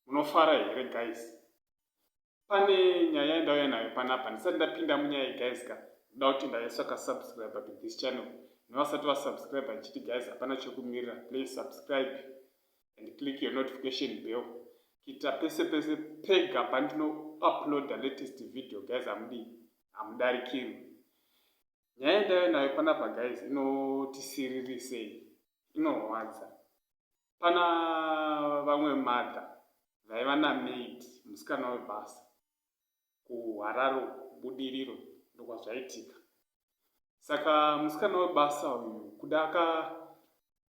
munofara here guys pane nyaya yandauya nayo panapa ndisati ndapinda munyaya iyi guys ka ndoda kuti ndaiswa kasubscribe to this channel nevasati vasubscribe ndichiti guys hapana chekumirira please subscribe and click your notification bell kuita pese pese pega pandino uploada latest video guys hamudii hamudarikirwi nyaya yendave nayo panapa guys inotisirirwisei inorwadza pana vamwe mother vaiva namaid musikana webasa kuHarare uko Budiriro ndokwazvaitika. Saka musikana webasa uyu kuda aka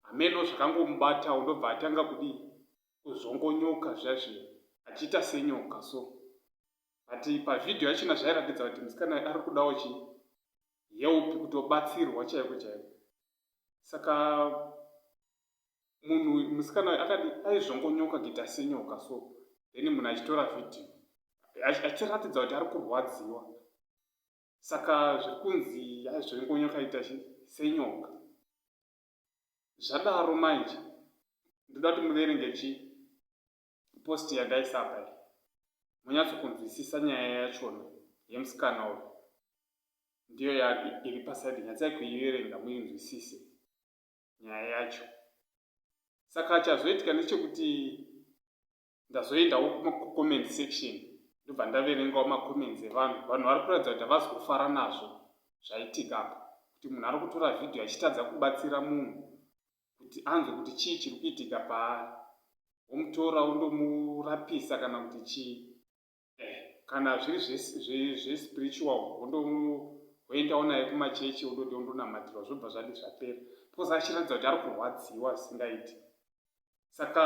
hameno zvakangomubatawo ndobva atanga kudii kuzvongonyoka zviya zviya achiita senyoka so but pavhidhiyo yachona zvairatidza kuti musikana ari kudawo chii help kutobatsirwa chaiko chaiko saka munhu uyu musikana uyu akadi aizvongonyoka kuita senyoka so then munhu achitora vhidhiyo achiratidza kuti ari kurwadziwa saka zviri kunzi aizvongonyoka ita senyoka zvadaro manje ndoda kuti muverenge chi posti yandaisapa munyatsokunzwisisa nyaya yachona yemusikana uyu ndiyo iri pasaidi nyatsai kuiverenga muinzwisise nyaya yacho saka chazoitika ndechekuti ndazoendawo kumacomment section ndobva ndaverengawo macomments evanhu vanhu vari kuratidza kuti havazi kufara nazvo zvaitika apa kuti munhu ari kutora vhidhiyo achitadza kubatsira munhu kuti anzwe kuti chii chiri kuitika paari womutora wondomurapisa kana kuti chii eh, kana zviri zvespiritual hoendawo naye kumachechi ondoti ondonamatirwa zvobva zvadi zvapera because achiratidza kuti ari kurwadziwa zvisingaiti saka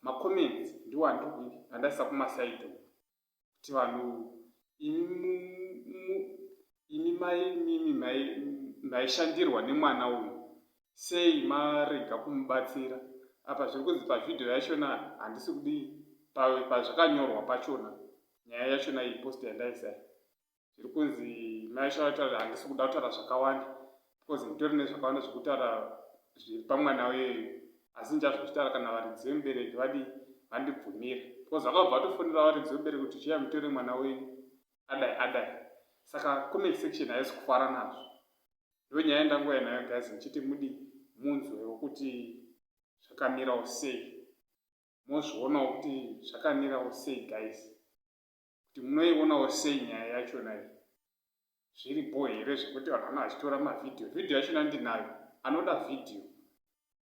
macomments ndiwo andikuiti andaisa kumasaidi uku kuti vanhu imi mai mimi maishandirwa nemwana uyu sei marega kumubatsira apa zviri kunzi pavhidhiyo yachona handisi kudii pazvakanyorwa pachona nyaya yachona iyi post yandaisa zviri kunzi maishaataura handisi kuda kutaura zvakawanda because nditori nezvakawanda zvekutaura zviri pamwana uyeyu asi ndichazvitaura kana varidzi vemubereki vadi vandibvumira because vakabva vatofonera varidzi vemubereki kuti chiya mutore mwana wenyu adai adai saka comment section haisi kufara nazvo ndo nyaya ndangouya nayo guys ndichiti mudi munzwewo kuti zvakamirawo sei mozvionawo kuti zvakamirawo sei guys kuti munoionawo sei nyaya yachona iyi zviri bho here zvekuti vanhu vana vachitora mavhidhiyo vhidhiyo yachona ndinayo anoda vhidhiyo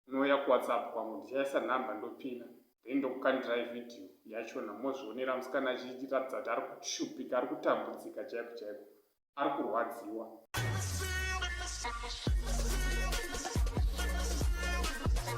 unouya kuwhatsapp kwangu ndichaisa number ndopina then ndokukandirai video yachona mozvionera musikana achiratidza kuti ari kushupika ari kutambudzika chaiko chaiko ari kurwadziwa